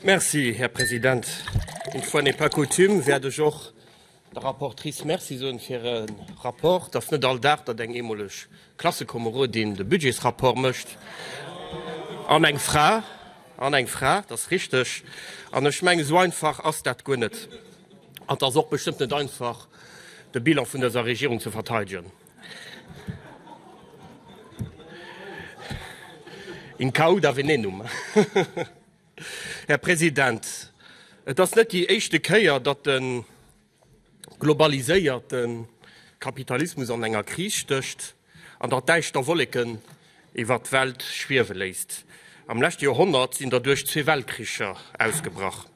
Merci, Här President. Une fois n'est pas coutume wäert ech och der Rapportrice Merci soen fir e Rapport. Et ass net all Dag, datt eng ehemoleg Klassekomerodin de Budgetsrapport mécht. An eng Fra. An eng Fra, dat ass richteg. An ech mengen, esou einfach ass dat guer net. An et ass och bestëmmt net einfach, de Bilan vun dëser Regierung ze verteidegen. In cauda venenum. Här President, et ass net déi éischte Kéier, datt de globaliséierte Kapitalismus an enger Kris stécht an datt däischter Wolleken iwwert d'Welt schwiewe léisst. Am leschte Joerhonnert sinn derduerch zwee Weltkricher ausgebrach.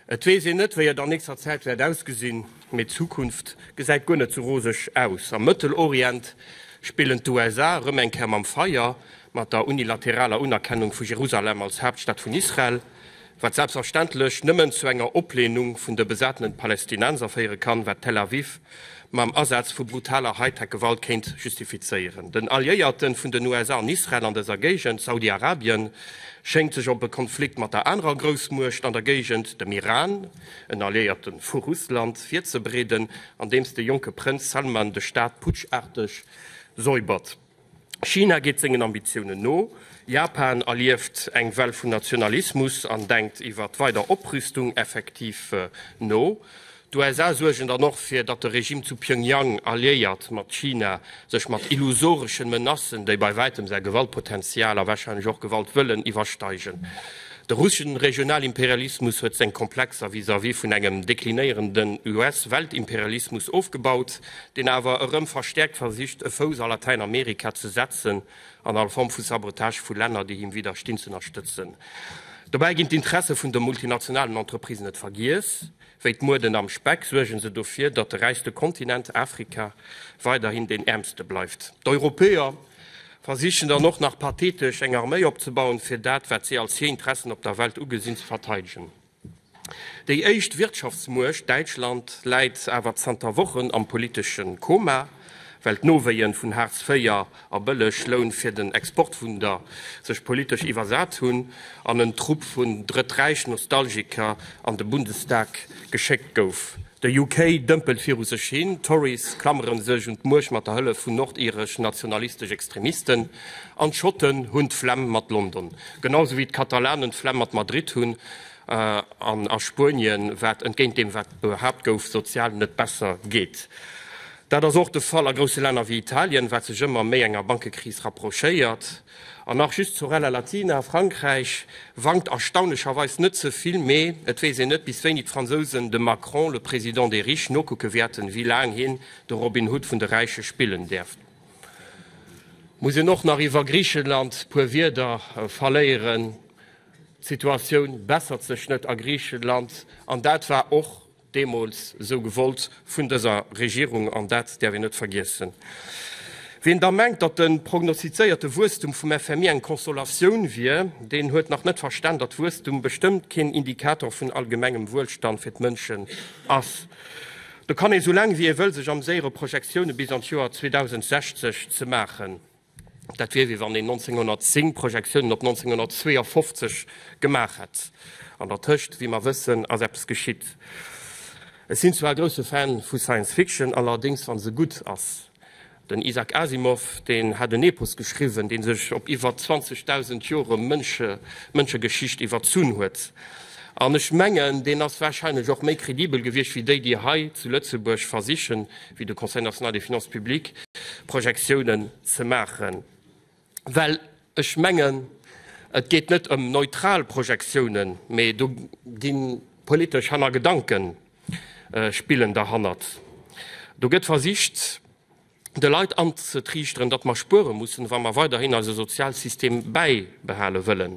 Et weess een net, wéi et an nächster Zäit wäert ausgesinn, mee d'Zukunft gesäit guer net sou roseg aus. Am Mëttelorient spillen d'USA erëm eng Kéier mam Feier, mat der unilateraler Unerkennung vu Jerusalem als Haaptstad vun Israel, wat selbstverständlech nëmmen zu enger Oplehnung vun de besatenen Palästinenser féiere kann, wat Tel Aviv mam Asaz vu brutaler Hightech-Gewalt kéint justifizéieren. Den Alliéierte vun den USA an Israel an dëser Géigend, Saudi-Arabien, schéngt sech op e Konflikt mat der anerer Groussmuecht an der Géigend, dem Iran, en Alliéierte vu Russland, virzebereeden, andeems de jonke Prënz Salman de Staat putscharteg säubert. China geet sengen Ambitiounen no, Japan erlieft eng Well vun Nationalismus an denkt iwwer weider Oprüstung effektiv no. D'USA suergen dann och fir, datt de Regime zu Pyongyang, alliéiert mat China, sech mat illusoreschen Menacen, déi bei wäitem säi Gewaltpotential a warscheinlech och Gewaltwëllen iwwersteigen. De russeschen Regionalimperialismus huet seng Komplexer vis-à-vis vun engem deklinéierenden US-Weltimperialismus ofgebaut. deen awer erëm verstäerkt versicht e Fouss a Latäinamerika ze setzen an all Form vu Sabotage vu Länner, déi him widderstinn, z'ënnerstëtzen. Dobäi ginn d'Interesse vun de multinationalen Entreprisen net vergiess. Wéi d'Mueden am Speck suergen se dofir, datt de räichste Kontinent, Afrika, weiderhin deen äermste bleift. D'Europäer versichen dann och nach pathetesch eng Arméi opzebauen, fir dat, wat si als hir Interessen op der Welt ugesinn, ze verteidegen. Déi éischt Wirtschaftsmuecht Däitschland läit awer zanter Wochen am politesche Koma, well d'Nowéien vun Hartz IV a bëlleg Loun fir den Exportwunder sech politesch iwwersat hunn an en Trupp vun Drëtträich-Nostalgiker an de Bundestag geschéckt gouf. De UK dëmpelt viru sech hin, d'Tories klammere sech un d'Muecht mat der Hëllef vun nordiresch-nationalistesch Extremisten An d'Schotten hunn d'Flemm mat London, genau esou wéi d'Katalanen d'Flemm mat Madrid hunn. An a Spuenien, wat, entgéint deem wat behaapt gouf, sozial net besser geet. Dat ass och de Fall a grousse Länner wéi Italien, wat sech ëmmer méi enger Bankekris rapprochéiert. An nach just zur Rallye Latina, Frankräich wankt erstaunlecherweis net ze vill, mee et weess een net bis wéini d'Fransousen dem Macron, le président des riches, nokucke wäerten, wéi laang hien de Robin Hood vun de Räiche spillen däerf. Muss een och nach iwwer Griichenland puer Wierder verléieren? D'Situatioun bessert sech net a Griichenland, an dat war och deemools esou gewollt vun dëser Regierung, an dat däerf een net vergiessen. Wien da mengt, datt de prognostizéierte Wuesstum vum FMI eng Consolatioun wier, deen huet nach net verstan, datt Wuesstum bestëmmt keen Indikator vun allgemengem Wuelstand fir d'Mënschen ass. Do kann ee sou laang wéi ee wëll sech amséiere Projektioune bis an d'Joer 2060 ze maachen. Dat wier wéi wann een 1910 Projektiounen op 1952 gemaach hätt. An der Tëscht, wéi mer wëssen, ass eppes geschitt. Ech sinn zwar e grousse Fan vu Science Fiction, allerdéngs wa se gutt ass. Den Isaac Asimov, deen hat en Epos geschriwwen, dee sech op iwwer 20.000 Jore Mënsche, Mënschegeschicht iwwerzunn huet. An ech mengen, deen ass warscheinlech och méi kredibel gewiescht wéi déi, déi hei zu Lëtzebuerg versichen, wéi de Conseil national des finances publiques, Projektiounen ze maachen. Well ech mengen, et geet net ëm neutral Projektiounen, mee do gi politesch Hannergedankenspillen derhannert. Do gëtt versicht, de Leit anzetriichteren, datt mer spuere mussen, wa mer weiderhin eise Sozialsystem bäibehale wëllen.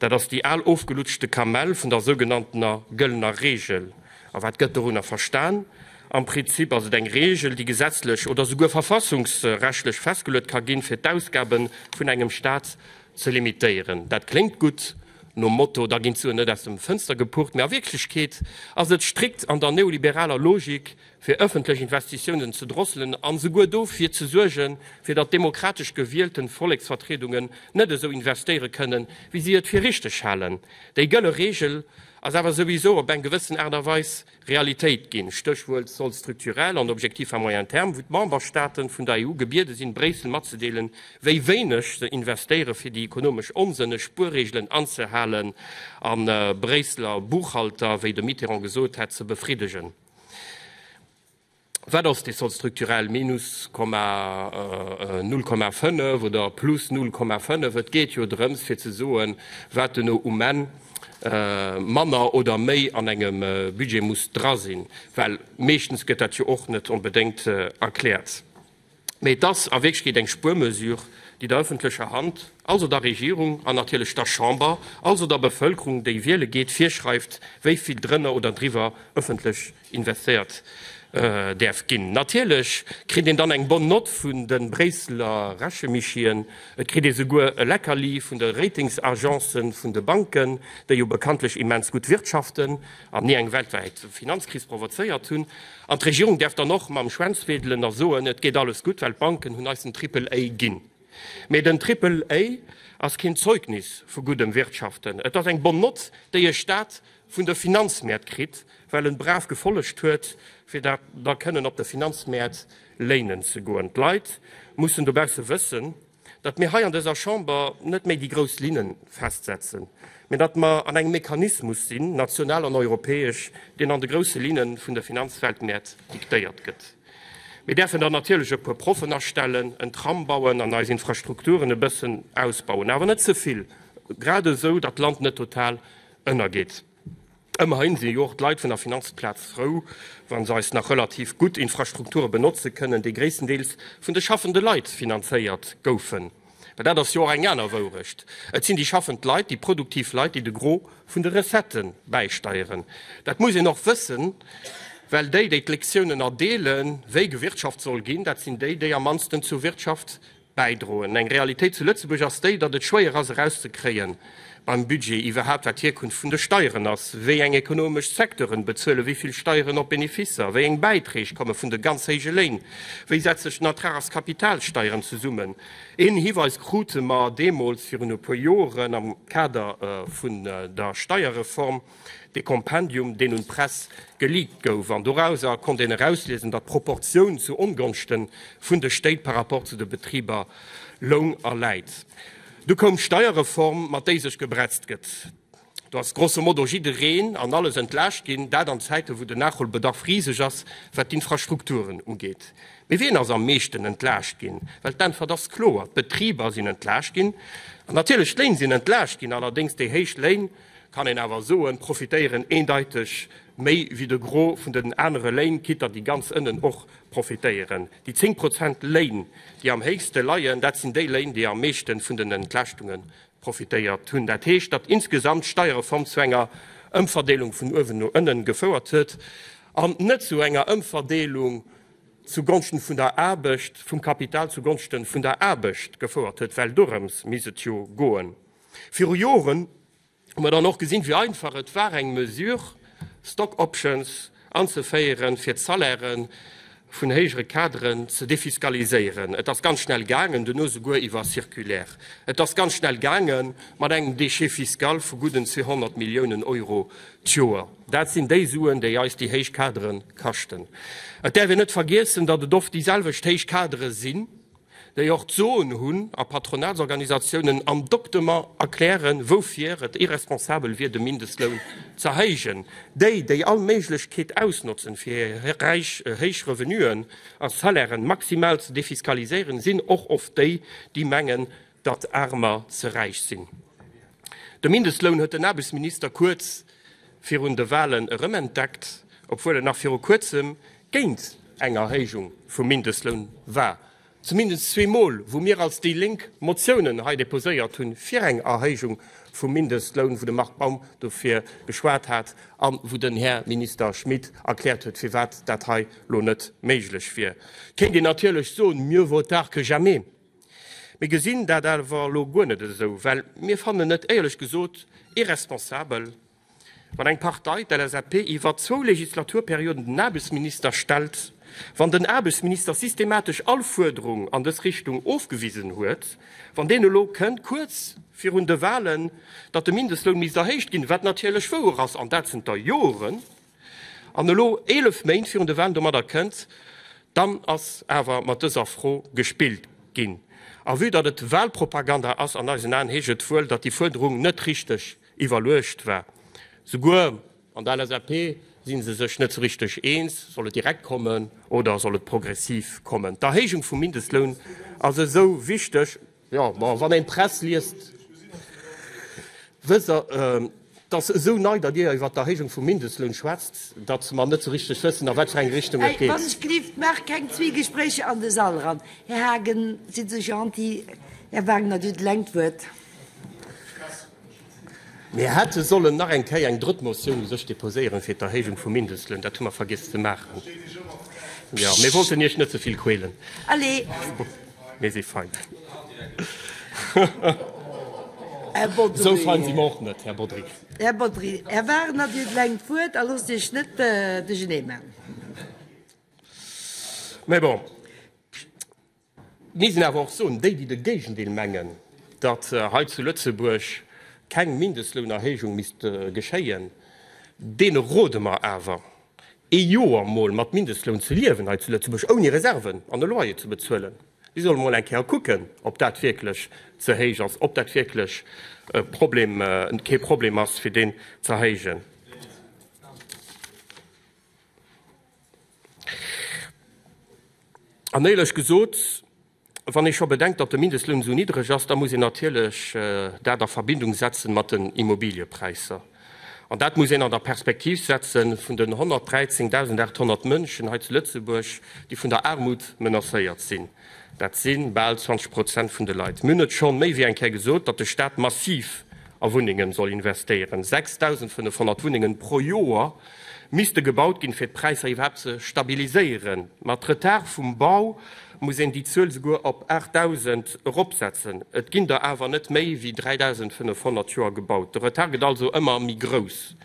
Dat ass déi al ofgelutschte Kamell vun der sougenanntener gëllener Reegel. A wat gëtt dorunner verstan? Am Prinzip ass et eng Reegel, déi gesetzlech oder souguer verfassungsrechtlech festgeluet ka ginn, fir d'Ausgabe vun engem Staat ze limitéieren. Dat kléngt gutt, nom Motto, da ginn d'Suen net aus dem Fënster gepucht. Mee a Wierklechkeet ass et strikt an der neoliberaler Logik, fir ëffentlech Investitiounen ze drosselen a souguer dofir ze suergen, fir datt demokratesch gewielten Volleksvertriedungen net esou investéiere kënnen, wéi si et fir richteg halen. Déi gëlle Reegel ass awer souwisou op eng gewëssen Aart a Weis Realitéit ginn, Stéchwuert soll strukturell an objectif à moyen terme, wou d'Memberstaaten vun der EU gebiede sinn, Bréissel matzedeelen, wéi wéineg se investéieren, fir déi ekonomesch onsënneg Spuerreegelen anzehalen an Bréisseler Buchhalter, wéi de Mitterrand gesot hätt, ze befriddegen. Wat ass dee Solde structurel, minus 0,5 oder plus 0,5? Et geet jo drëms fir ze soen, wat duerno um Enn manner oder méi an engem Budget muss dra sinn, well meeschtens gëtt dat jo och net onbedéngt erkläert. Mee et ass a Wierklechkeet eng Spuermesure, déi der ëffentlecher Hand, also der Regierung an natierlech der Chamber, also der Bevëlkerung, déi wiele geet, virschreift, wéi vill drënner oder driwwer ëffentlech investéiert däerf ginn. Natierlech kritt een dann eng bonne note vun de Bréisseler Rechemischien, et kritt ee souguer e Leckerli vun de Ratingsagencen vun de Banken, déi jo bekanntlech immens gutt wirtschaften. an ni eng weltwäit Finanzkris provozéiert hunn, an d'Regierung däerf dann och mam Schwänz wedelen a soen, et geet alles gutt, well d'Banken hunn eis den Triple A ginn. Mee den Triple A ass keen Zeugnis vu guddem Wirtschaften, et ass eng Bonne note, déi e Staat vun de Finanzmäert kritt, well en brav gefollegt huet, fir da kënnen op de Finanzmäert léinen ze goen. D'Leit mussen dobausse wëssen, datt mir hei an dëser Chamber net méi déi grouss Linne festsetzen, mä datt mer an engem Mechanismus sinn, national an europäesch, deen an de grousse Linne vun de Finanzweltmäert diktéiert gëtt. Mir däerfen dann natierlech e puer Proffen astellen, en Tram bauen an eis Infrastrukturen e bëssen ausbauen, awer net ze vill, grad esou datt d'Land net total ënnergeet. Ëmmerhin sinn jo och d'Leit vun der Finanzplaz frou, wa se eis nach relativ gutt Infrastrukture benotze kënnen, déi gréisstendeels vun de schaffende Leit finanzéiert goufen. Well dat ass jo och eng aner Wourecht, Et sinn déi schaffend Leit, déi produktiv Leit, déi de Gros vun de Recettë bäisteieren. Dat muss een och wëssen, well déi, déi d'Lektiounen erdeelen, wéi gewirtschaft soll ginn, dat sinn déi, déi am mannsten zur Wirtschaft bäidroen. Eng Realitéit zu Lëtzebuerg ass déi, datt et schwéier ass erauszekréie beim Budget iwwerhaupt, wat d'Hierkunft vun de Steieren ass, wéi eng ekonomesch Secteuren bezuele wéi vill Steieren op Beneficer, wéi eng Bäitreeg komme vun de ganz héije Léin, wéi setzt sech den Ertrag aus Kapitalsteieren zesummen. Een Hiweis krute mer deemools, virun e puer Joren, am Kader vun der Steierreform. dee Kompendium, deen un d'Press geleakt gouf. An dorauser konnt een erausliesen, datt d'Proportioun zu Ongonschte vun de Stéit par rapport zu de Betriber loung a läit. Du koum d'Steierreform, mat déi sech gebretzt gëtt. Do ass grosso modo jiddereen an alles entlaascht ginn, dat an Zäite wou den Nachholbedarf riseg ass, wat d'Infrastrukturen ugeet. Mee wien ass am meeschten entlaascht ginn? Well d'Äntwert ass kloer, d'Betriber sinn entlaascht ginn. An natierlech d'Léin sinn entlaascht ginn, allerdéngs déi héich Léin, kann een awer soen, profitéieren eendeiteg méi wéi de Gros vun den anere Léin, quitt datt déi ganz ënnen och profitéieren. Déi 10 Prozent Léin, déi am héichste leien, dat sinn déi Léin, déi am meeschten vun den Entlaaschtungen profitéiert hunn. Dat heescht, datt insgesamt d'Steierreform zu enger Ëmverdeelung vun uewen no ënnen gefouert huet an net zu enger Ëmverdeelung zu Gonschten vun der Aarbecht, vum Kapital zu Gonschten vun der Aarbecht gefouert huet, well dorëms misst et jo goen. Viru Joren hu mer dann och gesinn, wéi einfach et war, eng Mesure, Stock Options, anzeféieren, fir d'Salairë vun héijere Kaderen ze defiskaliséieren. Et ass ganz schnell gaangen, duerno souguer iwwer Circulaire. Et ass ganz schnell gaange mat engem Déchet fiscal vu gudden 200 Milliounen Euro d'Joer. Dat sinn déi Suen, déi eis déi héich Kadere kaschten. Et däerf een net vergiessen, datt et oft déiselwecht héich Kadere sinn, déi och d'Soen hunn a Patronatsorganisatiounen am Doktement erklären, woufir et irresponsabel wier, de Mindestloun z'erhéijen, déi, déi all Méiglechkeet ausnotzen, fir hir räich, héich Revenuen a Salairen maximal ze defiskaliséieren, sinn och oft déi, déi mengen, datt Aarmer ze räich sinn. De Mindestloun huet den Aarbechtsminister kuerz virun de Walen erëm entdeckt, obwuel en nach viru kuerzem géint eng Erhéijung vum Mindestloun war, zumindest zwee Mol, wou mir als déi Lénk Motiounen hei deposéiert hu fir eng Erhéijung vum Mindestloun, wou de Marc Baum dofir geschwat hat a wou den Här Minister Schmit erkläert huet, firwat dat hei elo net méiglech wier. Kéint een natierlech soen, mieux vaut tard que jamais. Mir gesinn dat awer elo guer net esou, well mir fannen et éierlech gesot irresponsabel, wann eng Partei, d'LSAP, iwwer zwou Legislaturperioden den Aarbechtsminister stellt, wann den Aarbechtsminister systematesch all Fuerderung an dës Richtung ofgewisen huet, wann deen elo kënnt, kuerz virun de Wahlen, datt de Mindestloun misst erhéicht ginn, wat natierlech wouer ass, an dat zënter Joren. An elo, 11 Méint virun de Wahlen, domadder kënnt dann ass awer mat dëser Fro gespillt ginn. A vue datt et Wahlpropaganda ass, an eisen Aen, heescht et wuel, datt déi Fuerderung net richteg iwwerluecht war. Souguer an der LSAP si se sech net sou richteg eens, soll et direkt kommen oder soll et progressiv kommen. D'Erhéijung vum Mindestloun ass esou wichteg. Jo, ma wann een d'Press liest, wësst Der, t'ass esou nei, datt Dir iwwer d'Erhéijung vum Mindestloun schwätzt, datt mer net sou richteg wëssen, a wat fir eng Richtung et geet. Wann-ech-gelift, Maacht keng Zwiegespréicher an de Sall eran. Här Haagen, sidd esou gentil, Här Wagner, Dir huet eleng d'Wuert. Mir hätte sollen nach eng Kéier eng drëtt Motioun u sech deposéieren, fir d'Erhéijung vum Mindestloun. Dat hu mer vergiess ze maachen. Jo, mir wollten Iech net ze vill quälen. Allez! Mir si fein. Esou fein si mer och net, Här Bodry. Här Bodry, Här Wagner, Dir klengt d'Wuert a loosst Iech net duercheeneemaan. Mee bon. Mir missten awer och soen, déi, déi de Géigendeel mengen, datt hei zu Lëtzebuerg keng Mindestlounerhéijung misst geschéien, deene rode mer awer, ee Joer emol mat Mindestloun ze liewen hei zu Lëtzebuerg, ouni Reserven an e Loyer ze bezuelen. Si solle mol eng Kéier kucken, ob dat wierklech ze héich ass, ob dat wierklech kee Problem ass, fir deen z'erhéijen. An éierlech gesot, wann ee scho bedenkt, datt de Mindestloun esou niddreg ass, da muss een natierlech dat a Verbindung setzen mat den Immobiliëpräisser. An dat muss een an der Perspektiv setzen vun den 113.800 Mënschen hei zu Lëtzebuerg, déi vun der Aarmut menacéiert sinn. Dat si bal 20 Prozent vun de Leit. Mir hunn et scho méi wéi eng Kéier gesot, datt de Staat massiv a Wunnengen soll investéieren. 6.500 Wunnengen pro Joer misste gebaut ginn, fir d'Präisser iwwerhaapt ze stabiliséieren. Mat Retard vum Bau muss een déi Zuel souguer op 8.000 eropsetzen. Et ginn der awer net méi wéi 3.500 d'Joer gebaut. De Retard gëtt also ëmmer méi grouss.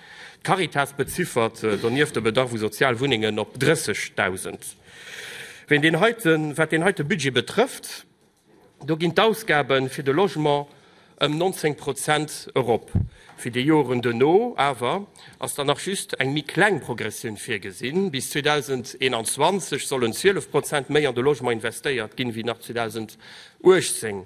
D'Caritas beziffert donieft de Bedarf u sozial Wunnengen op 30.000. Wat deen heite Budget betrëfft, do ginn d'Ausgabe fir de Logement ëm 19 Prozent erop. Fir déi Joren duerno awer ass dann nach just eng méi kleng Progressioun virgesinn. Bis 2021 sollen 12 Prozent méi an de Logement investéiert ginn, wéi nach 2018.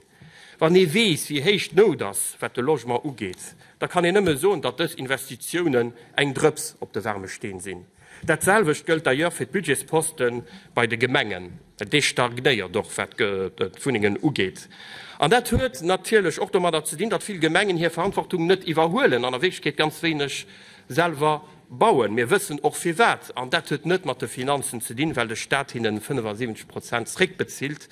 Wann ee weess, wéi héich d'Nout ass, wat de Logement ugeet, da kann een nëmme soen, datt dës Investitiounen eng Drëps op de waarme Steen sinn. Dat selwecht gëllt d'ailleurs fir d'Budgetsposte bei de Gemengen. Dee stagnéiert och, wat d'Wunnengen ugeet. An dat huet natierlech och domadder ze dinn, datt vill Gemengen hir Verantwortung net iwwerhuelen an a Wierklechkeet ganz wéineg selwer Bauen. Mir wëssen och firwat. An dat huet net mat de Finanzen ze dinn, well de Staat hinnen 75 Prozent zréckbezilt,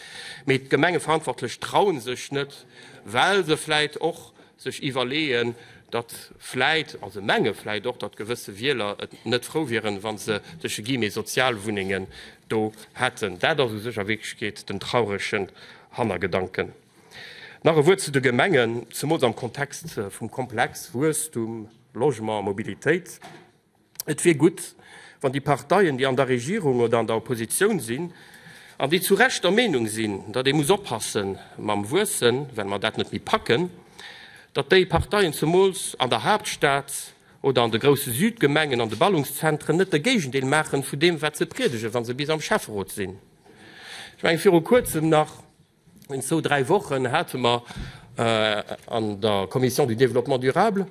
mee d'Gemengeverantwortlech trauen sech net, well se vläit och sech iwwerleeën, datt vläit, a se menge vläit och, datt gewësse Wieler et net frou wieren, wa se tësche Guillemets Sozialwunnengen do hätten. Dat ass u sech a Wierklechkeet den trauregen Hannergedanken. Nach e Wuert zu de Gemengen, zemools am Kontext vum Komplex Wuesstum. Logement, Mobilitéit, et wier gutt, wann déi Parteien, déi an der Regierung oder an der Oppositioun sinn an déi zu Recht der Meenung sinn, datt ee muss oppasse mam Wuessen, well mer dat net méi packen, datt déi Parteien zemools an der Haaptstad oder an de grousse Südgemengen an de Ballungszentren net de Géigendeel maachen vu deem, wat se priedegen, wa se bis am Schäfferot sinn. Ech mengen, viru Kuerzem nach. Zou dräi Wochen hate mer an der Commission du Développement durable,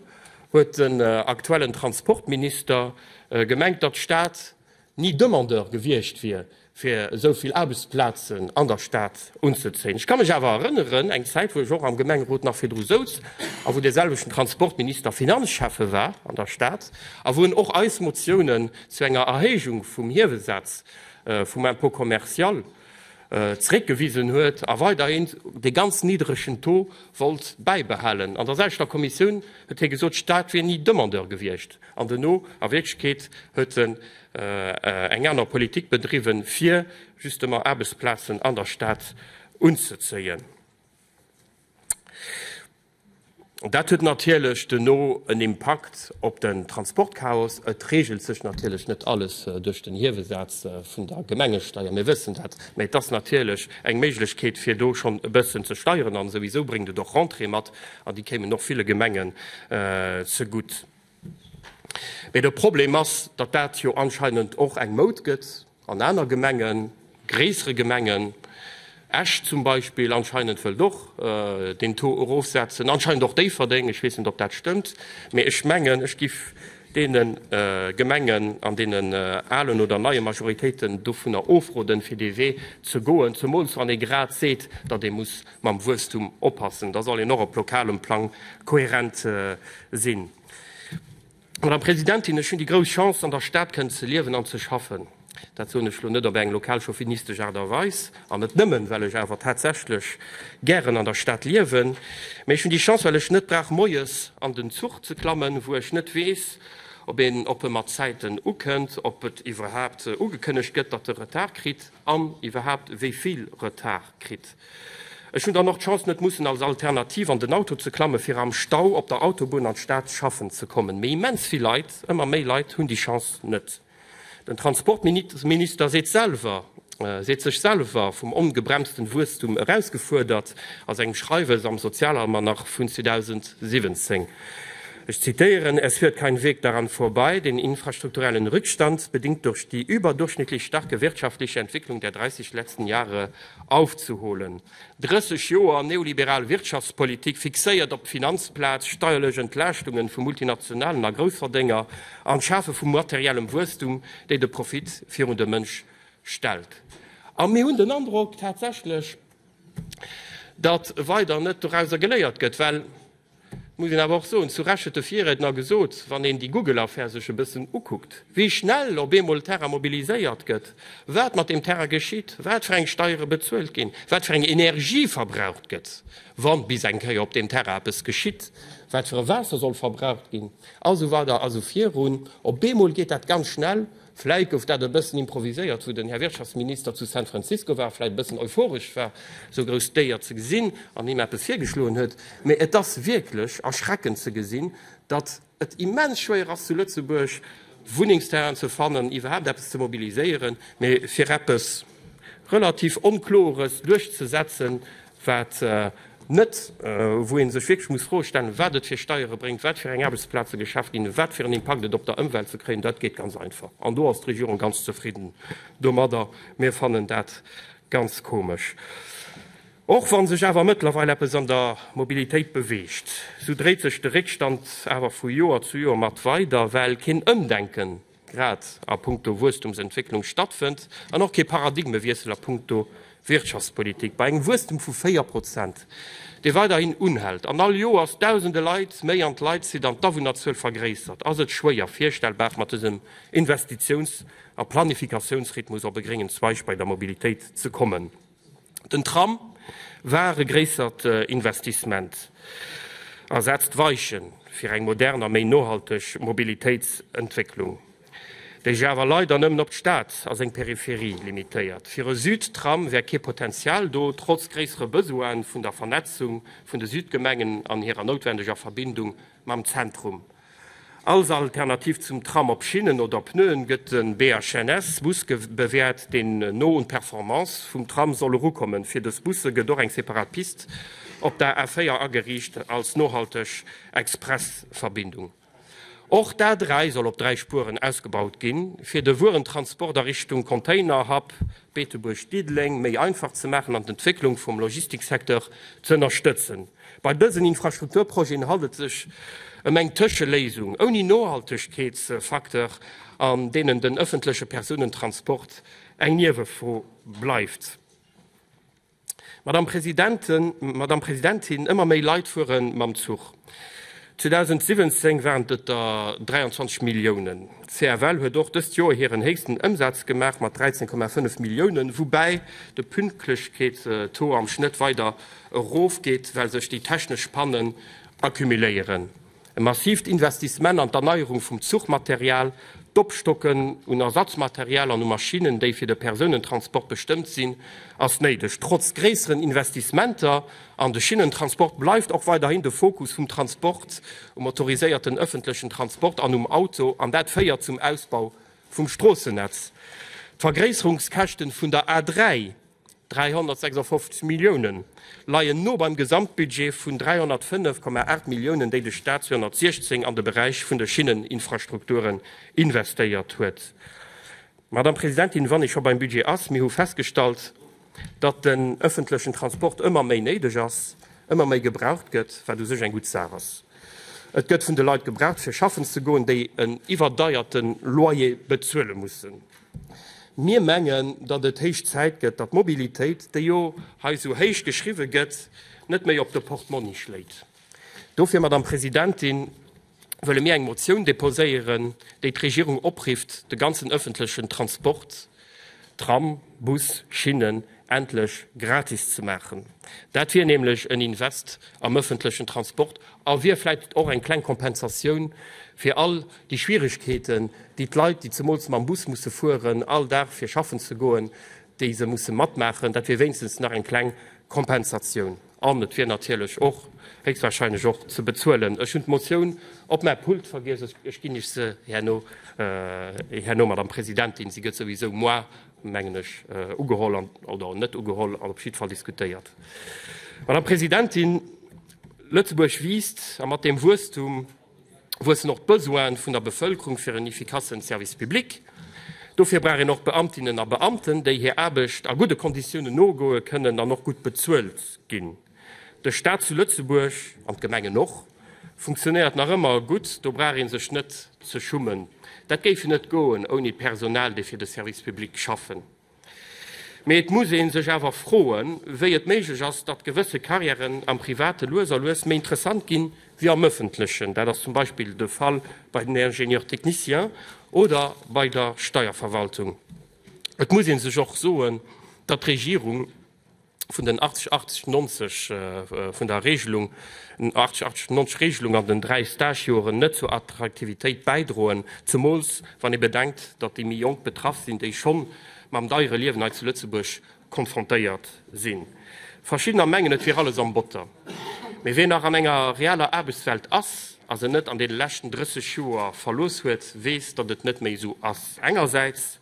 huet den aktuellen Transportminister gemengt, datt d'Stad ni Demandeur gewiescht wier, fir esou vill Aarbechtsplazen an der Stad unzezéien. Ech ka mech awer erënneren, eng Zäit, wou ech och am Gemengerot nach virdru souz a wou deeselwechten Transportminister Finanzschäffe war an der Stad a wou en och eis Motiounen zu enger Erhéijung vum Hiewesaz vum Impôt commercial, zréckgewisen huet a weiderhin dee ganz niddregen Taux wollt bäibehalen. An der selwechter Kommissioun huet hie gesot, d'Stad wier ni Demandeur gewiescht an duerno a Wierklechkeet huet en eng aner Politik bedriwwen, fir justement Aarbechtsplazen an der Stad unzezéien. Dat huet natierlech duerno en Impakt op den Transportchaos. Et reegelt sech natierlech net alles duerch den Hiewesaz vun der Gemengesteier, mir wëssen dat, mä et ass natierlech eng Méiglechkeet, fir do schonn e bëssen ze steieren. A souwisou bréngt et och Rentrée mat, an déi kéimen och ville Gemengen zegutt. Mee de Problem ass, datt dat jo anscheinend och eng Moud gëtt an aner Gemengen, gréissere Gemengen. Esch zum Beispill anscheinend wëllt och deen Taux erofsetzen, anscheinend och Déifferdeng. Ech weess net, ob dat stëmmt, mee ech mengen, ech giff deene Gemengen an deene alen oder neie Majoritéiten dovunner ofroden, fir dee Wee ze goen, zemools wann ee grad seet, datt ee muss Mam Wuesstum oppassen, da soll een och op lokalem Plang kohärent sinn. Madame Presidentin, ech hunn déi grouss Chance, an der Stad kënnen ze liewen an ze schaffen. Dat soen ech elo net op eng lokalchauvinistesch Aart a Weis an net nëmmen, well ech awer tatsächlech gären an der Stad liewen, mee ech hunn déi Chance, well ech net brauch moies an den Zuch ze klammen, wou ech net weess, ob een, ob e mat Zäiten ukënnt, ob et iwwerhaapt ugekënnegt gëtt, datt e Retard kritt an iwwerhaapt wéi vill Retard kritt. Ech hunn dann och d'Chance net mussen als Alternativ an den Auto ze klammen fir am Stau op der Autobunn an d'Stad schaffen ze kommen. Mee immens vill Leit, ëmmer méi Leit hunn déi Chance net. Den Transportminister seet selwer, seet sech selwer vum ongebremsten Wuesstum erausgefuerdert a sengem Schreiwes am Sozialalmanach vun 2017. Ech zitieren, Es führt kein Weg daran vorbei, den infrastrukturellen Rückstand, bedingt durch die überdurchschnittlich starke wirtschaftliche Entwicklung der 30 letzten Jahre, Aufzeholen. 30 Joer neoliberal Wirtschaftspolitik fixéiert op d'Finanzplaz, steierlech Entlaaschtungen vu Multinationalen a Groussverdénger an d'Schafe vu materiellem Wuesstum, déi de Profit virun de Mënsch stellt. A mir hunn den Androck tatsächlech, datt weider net dorauser geléiert gëtt, well. Et muss een awer och soen, zu Recht huet de Virriedner gesot, wann een déi Google-Affär sech e bëssen ukuckt, wéi schnell op eemol Terrain mobiliséiert gëtt, wat mat deem Terrain geschitt, wat fir eng Steiere bezuelt ginn, wat fir eng Energie verbraucht gëtt, wa bis eng Kéier op deem Terrain eppes geschitt, wat fir e Waasser soll verbraucht ginn a sou weider a sou virun. Op eemol geet dat ganz schnell. Vläit gouf dat e bëssen improviséiert, wou den Här Wirtschaftsminister zu San Francisco war, vläit e bëssen euphoresch war, esou grouss Déier ze gesinn an him eppes virgeschloen huet. Mee et ass wierklech erschreckend ze gesinn, datt et immens schwéier ass, zu Lëtzebuerg Wunnengsterrainen ze fannen, iwwerhaapt eppes ze mobiliséieren. Mee fir eppes relativ Onklores duerchzesetzen, wat net, wou ee sech wierklech muss d'Fro stellen, wat et fir Steiere bréngt, wat fir eng Aarbechtsplaze geschaf ginn, wat fir en Impakt et op der Ëmwelt ze kréien. Dat geet ganz einfach an do ass d'Regierung ganz zefridden domadder. Mir fannen dat ganz komesch. Och wa sech awer mëttlerweil eppes an der Mobilitéit beweegt, esou dréit sech de Réckstand awer vu Joer zu Joer mat weider, well keen Ëmdenken grad a punkto Wuesstumsentwécklung stattfënnt, an och kee Paradigmewiessel a punkto Wirtschaftspolitik. Bei engem Wuesstum vu 4 Prozent, dee weiderhin unhält, an all Joers Dausende Leit méi an d'Leit zitt an d'Awunnerzuel vergréissert, ass et schwéier virstellbar, mat dësem Investitiouns a Planifikatiounsrhythmus op e gréngen Zweig bei der Mobilitéit ze kommen. Den Tram war e gréissert Investissement a setzt d'Weiche fir eng modern a méi nohalteg Mobilitéitsentwécklung, déi sech awer leider nëmmen op d'Stad a seng Peripherie limitéiert. Fir e Südtram wär kee Potenzial do, trotz gréissere Besoine vun der Vernetzung vun de Südgemengen an hirer noutwendeger Verbindung mam Zentrum. Als Alternativ zum Tram op Schinnen oder Pneuen gëtt de BHNS-Bus bewäert, deen no un d'Performance vum Tram soll erukommen. Fir dës Busse gëtt och eng separat Pist op der A4 ageriicht als nohalteg Express-Verbindung. Och d'A3 soll op dräi Spueren ausgebaut ginn, fir de Wuerentransport a Richtung Containerhub Beetebuerg-Diddeleng méi einfach ze maachen an d'Entwécklung vum Logistiksecteur z'ënnerstëtzen. Bei dësen Infrastrukturprojeten handelt et sech ëm eng Tëscheléisung ouni Nohaltegkeetsfacteur, an deenen den ëffentleche Persounentransport eng Niewefro bleift. Madame Presidentin, Madame Presidentin, ëmmer méi Leit fuere mam Zuch. 2017 waren et der 23 Milliounen. D'CFL huet och dëst Joer hiren héchsten Ëmsaz gemaach mat 13,5 Milliounen, woubäi de Pünktlechkeetstaux am Schnëtt weider erof geet, well sech déi technesch Pannen accumuléieren, e massivt Investissement an d'Erneierung vum Zuchmaterial, d'Opstocken un Ersatzmaterial an u Maschinnen, déi fir de Persounentransport bestëmmt sinn, ass néideg. Trotz gréisseren Investissementer an de Schinnentransport bleift och weiderhin de Fokus vum Transport um motoriséierten ëffentlechen Transport an um Auto, an dat féiert zum Ausbau vum Stroossennetz. D'Vergréisserungskäschten vun der A3 356 Milliounen leien no beim Gesamtbudget vun 305,8 Milliounen, déi de Staat 2016 an de Beräich vun de Schinneninfrastrukturen investéiert huet. Madame Presidentin, wann ee scho beim Budget ass, mir hu festgestallt, datt den öffentlechen Transport ëmmer méi néideg ass, ëmmer méi gebraucht gëtt, wat u sech eng gutt Saach ass. Et gëtt vun de Leit gebraucht, fir schaffen ze goen, déi en iwwerdeierten Loyer bezuele mussen. Mir mengen, datt et héich Zäit gëtt, datt d'Mobilitéit, déi jo hei esou héich geschriwwe gëtt, net méi op de Portmonni schléit. Dofir, Madame Presidentin, wëlle mir eng Motioun deposéieren, déi d'Regierung oprifft, de ganzen öffentlechen Transport, Tram, Bus, Schinnen, endlech gratis ze maachen. Dat wier nämlech en Invest am ëffentlechen Transport a wier vläicht och eng kleng Kompensatioun fir all déi Schwierigkeeten, déi d'Leit, déi zemools mam Bus musse fueren, all Dag fir schaffen ze goen, déi se musse matmaachen. Dat wier wéinstens nach eng kleng Kompensatioun. An et wier natierlech och héchstwahrscheinlech och ze bezuelen. Ech hunn d'Motioun op mäi Pult vergiess. Ech ginn Iech se herno, Madame Presidentin. Si gëtt souwisou moar mengen ech, ugeholl oder net ugeholl an op jiddwer Fall diskutéiert. Madame Presidentin, Lëtzebuerg wiisst a mat deem Wuesstum wuessen och d'Besoine vun der Bevëlkerung fir en efficace Service public. Dofir brauch een och Beamtinnen a Beamten, déi hir Aarbecht a gudde Konditiounen nogoe kënnen an och gutt bezuelt ginn. De Staat zu Lëtzebuerg, an d'Gemengen och, funktionéiert nach ëmmer gutt, do brauch ee sech net ze schummen. Dat géif net goen ouni Personal, déi fir de Service public schaffen. Mee et muss ee sech awer froen, wéi et méiglech ass, datt gewësse Carrièren am Private lues a lues méi interessant ginn, wéi am Ëffentlechen. Dat ass zum Beispill de Fall bei den Ingénieurs techniciens oder bei der Steierverwaltung. Et muss ee sech och soen, datt d'Regierung, vun den 80, 80, 90, vun der Regelung, 80, 80, 90 Regelung an den dräi Stagejoren net zur Attraktivitéit bäidroen, zemools wann ee bedenkt, datt déi méi Jonk betraff sinn, déi schonn mam deiere Liewen hei zu Lëtzebuerg konfrontéiert sinn. Verschiddener mengen, et wier alles am Botter. Mee wien nach an enger realer Aarbechtswelt ass a se net an deene leschten 30 Joer verlooss huet, weess, datt et net méi esou ass. Engersäits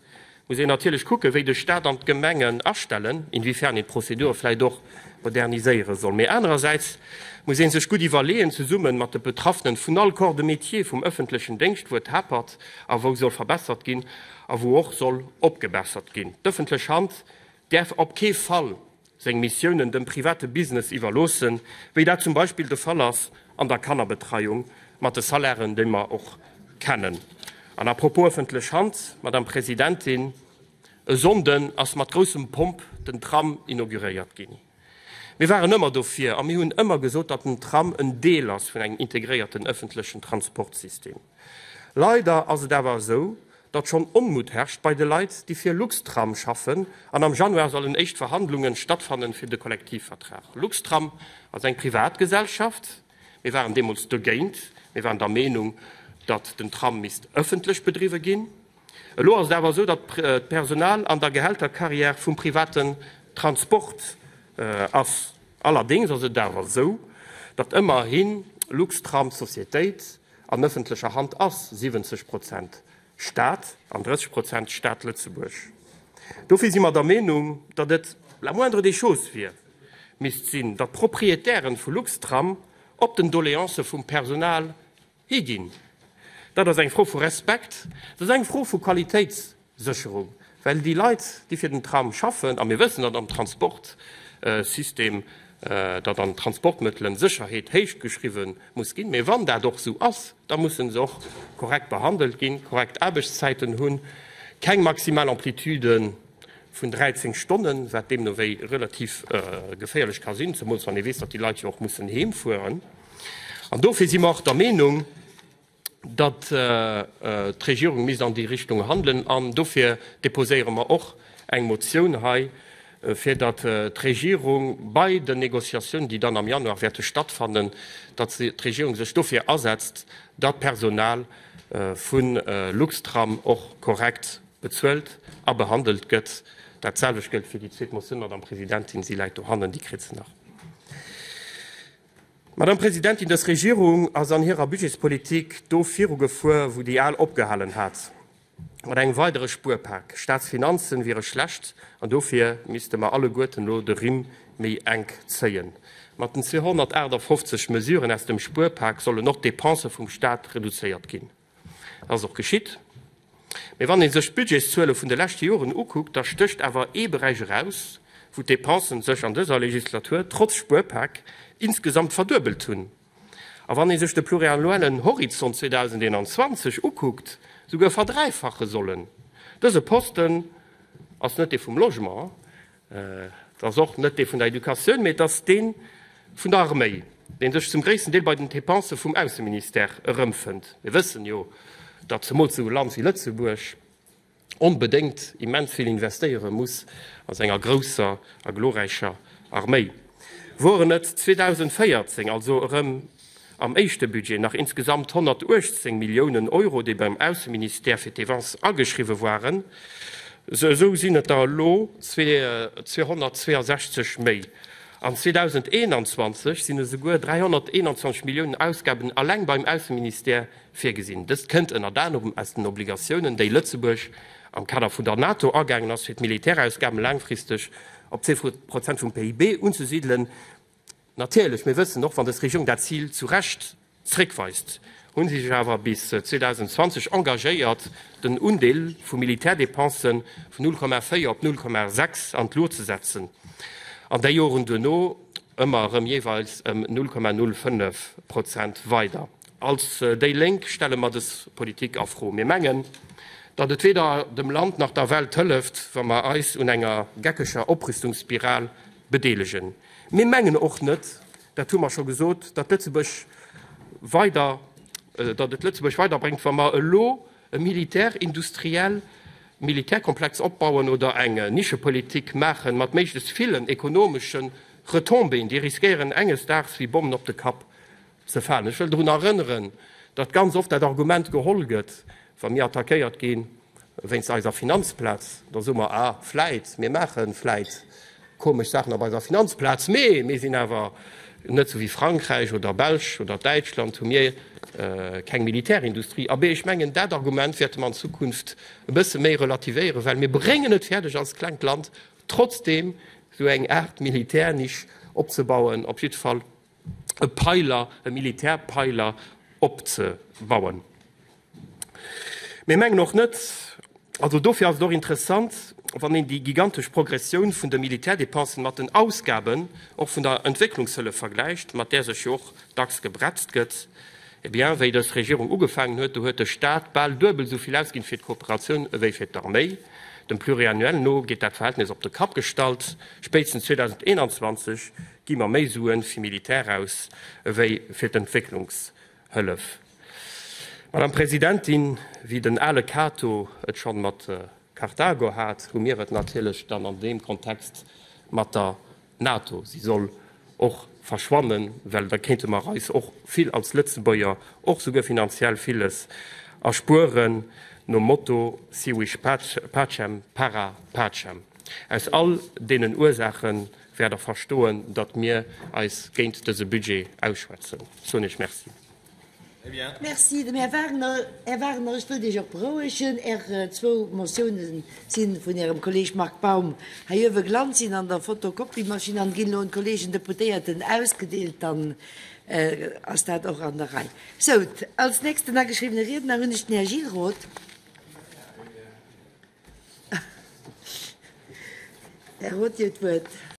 muss een natierlech kucken, wéi de Stat an d'Gemengen astellen, inwiefern een d'Prozedur vläicht och moderniséiere soll. Mee anerersäits muss ee sech gutt iwwerleeën, zesumme mat de Betraffenen vun all Corps de métier vum ëffentlechen Déngscht, wou et hapert a wou soll verbessert ginn a wou och soll opgebessert ginn. D'ëffentlech Hand däerf op kee Fall seng Missiounen dem private Business iwwerloossen, wéi dat zum Beispill de Fall ass an der Kannerbetreiung mat de Salairen, déi mer och kennen. An à propos ëffentlech Hand, Madame Presidentin, e Sonnden ass mat groussem Pomp den Tram inauguréiert ginn. Mir waren ëmmer dofir a mir hunn ëmmer gesot, datt den Tram en Deel ass vun engem integréierten ëffentlechen Transportsystem. Leider ass et awer esou, datt schonn Onmutt herrscht bei de Leit, déi fir Luxtram schaffen an am Januar sollen éischt Verhandlungen stattfannen fir de Kollektivvertrag. Luxtram ass eng Privatgesellschaft. Mir waren deemools dogéint. Mir waren der Meenung, datt den Tram misst ëffentlech bedriwwe ginn. Elo ass et awer esou, datt d'Personal an der Gehältercarrière vum privaten Transport ass. Allerdéngs ass et awer esou, datt ëmmerhi Luxtram d'Sociétéit an ëffentlecher Hand ass, 70 Prozent Staat an 30 Prozent Staat Lëtzebuerg. Dofir si mer der Meenung, datt et la moindre des choses wier, misst sinn, datt d'Proprietären vu Luxtram op den Doleancë vum Personal Hee ginn. Dat ass eng Fro vu Respekt, dat ass eng Fro vu Qualitéitssécherung, well déi Leit, déi fir den Tram schaffen, a mir wëssen, datt am Transportsystem, datt an Transportmëttelen d'Sécherheet héich geschriwwe muss ginn, mä wann dat och esou ass, da mussen se och korrekt behandelt ginn, korrekt Aarbechtszäiten hunn, keng maximal Amplitude vun 13 Stonnen, wat deemno wéi relativ geféierlech ka sinn, zemools wann ee weess, datt déi Leit jo och mussen heemfueren. An dofir si mer och der Meenung, datt d'Regierung misst an déi Richtung handelen. An dofir deposéiere mer och eng Motioun hei, fir datt d'Regierung bei den Négociatiounen, déi dann am Januar wäerte stattfannen, datt d'Regierung sech dofir asetzt, datt d'Personal vu Luxtram och korrekt bezuelt a behandelt gëtt. Dat selwecht gëllt fir déi zweet Motioun, Madame Presidentin, se läit dohannen, déi kritt se nach. Madame Presidentin, dës Regierung ass an hirer Budgetspolitik do virugefuer, wou déi al opgehalen hat, mat engem weidere Spuerpak. Staatsfinanzen wiere schlecht an dofir misste mer alleguerten elo de Rimm méi enk zéien. Mat den 258 Mesuren aus dem Spuerpak sollen och d'Depensë vum Staat reduzéiert ginn. Dat ass och geschitt. Mee wann ee sech d'Budgetszuele vun de leschte Joren ukuckt, da stécht awer ee Beräich eraus, wou d'Depensen sech an dëser Legislatur trotz Spuerpak insgesamt verduebelt hunn. A wann ee sech de pluriannuellen Horizont 2021 ukuckt, souguer verdräifache sollen. Dëse Posten ass net dee vum Logement. Et ass och net dee vun der Educatioun, mee et ass dee vun der Arméi, dee sech zum gréissten Deel bei den Dépensë vum Ausseministère erëmfënnt. Mir wëssen jo, datt zemools esou e Land wéi Lëtzebuerg onbedéngt immens vill investéiere muss a senger grousser a glorräicher Arméi. Woren et 2014 also erëm am éischte Budget nach insgesamt 118 Milliounen Euro, déi beim Ausseministère fir d'Défense ageschriwwe waren, esou sinn et der elo 262 méi. An 2021 sinn esouguer 321 Milliounen Ausgaben alleng beim Ausseministère virgesinn. Dëst kënnt ënnert anerem aus den Obligatiounen, déi Lëtzebuerg am Kader vun der NATO agaangen ass, fir d'Militärausgaben laangfristeg op zwee Prozent vum PIB unzesidelen. Natierlech, mir wëssen, och wann dës Regierung dat Zil zu Recht zréckweist, hu si sech awer bis 2020 engagéiert, den Undeel vu Militärdepensë vun 0,4 op 0,6 an d'Luucht ze setzen, an déi Joren duerno ëmmer erëm jeeweils ëm 0,05 Prozent weider. Als déi Lénk stelle mer dës Politik a Fro. Mir mengen, datt et weder dem Land nach der Welt hëlleft, wa mer eis un enger geckeger Oprüstungsspiral bedeelegen. Mir mengen och net, dat hu mer scho gesot, datt Lëtzebuerg weider, datt et Lëtzebuerg weiderbréngt, wa mer elo e militärindustriell Militärkomplex opbauen oder eng Nischepolitik maache mat méiglechst villen ekonomesche Retombéen, déi riskéieren enges Daags wéi Bommen op de Kapp ze falen. Ech wëll drun erënneren, datt ganz oft dat Argument geholl gëtt, wa mir attackéiert ginn, Wéinst eiser Finanzplaz, da soe mer, ah, vläit, mir maache vläit komesch Saachen op eiser Finanzplaz, mee mir sinn awer net sou wéi Frankräich oder Belsch oder Däitschland, hu mir keng Militärindustrie. Abee, ech mengen, dat Argument wäerte mer an Zukunft e bësse méi relativéieren, well mir bréngen et fäerdeg als klengt Land trotzdeem sou eng Aart Militärnisch opzebauen, op jiddwer Fall e Peiler, e Militärpeiler opzebauen. Mir mengen och net, also dofir ass et och interessant, wann een déi gigantesch Progressioun vun de Militärdepensen mat den Ausgaben och vun der Entwécklungshëllef vergläicht, mat där sech jo och dacks gebretzt gëtt, eh bien, wéi dës Regierung ugefaangen huet, do huet de Stat bal duebel esou vill ausginn fir d'Kooperatioun ewéi fir d'Arméi. Dem Pluriannuel no geet dat Verhältnis op de Kapp gestallt, spéitstens 2021 Gi mer méi Sue fir Militär aus ewéi fir d'Entwécklungshëllef? Madame Presidentin, wéi den ale Kato et schonn mat Karthago hat, hu mir et natierlech dann an deem Kontext mat der NATO. Si soll och verschwannen, well da kéinte mer eis och vill als Lëtzebuerger, och souguer finanziell villes erspueren, nom Motto Si vis pacem, para pacem. Aus all deenen Ursaachen wäert Der verstoen, datt mir eis géint dëse Budget ausschwätzen, soen Iech Merci. Merci dem Här Wagner. Här Wagner, ech wëllt Iech och berouegen. Är zwou Motioune si vun Ärem Kolleeg Marc Baum heiowe gelant, sinn an der Fotokopiemaschinn an ginn elo un d'Kolleegen Deputéierten ausgedeelt. Dann ass dat och an der Rei. Sou, als nächsten ageschriwwene Riedner hunn ech den Här Gilles Roth. Här Roth, Dir hutt d'Wuert.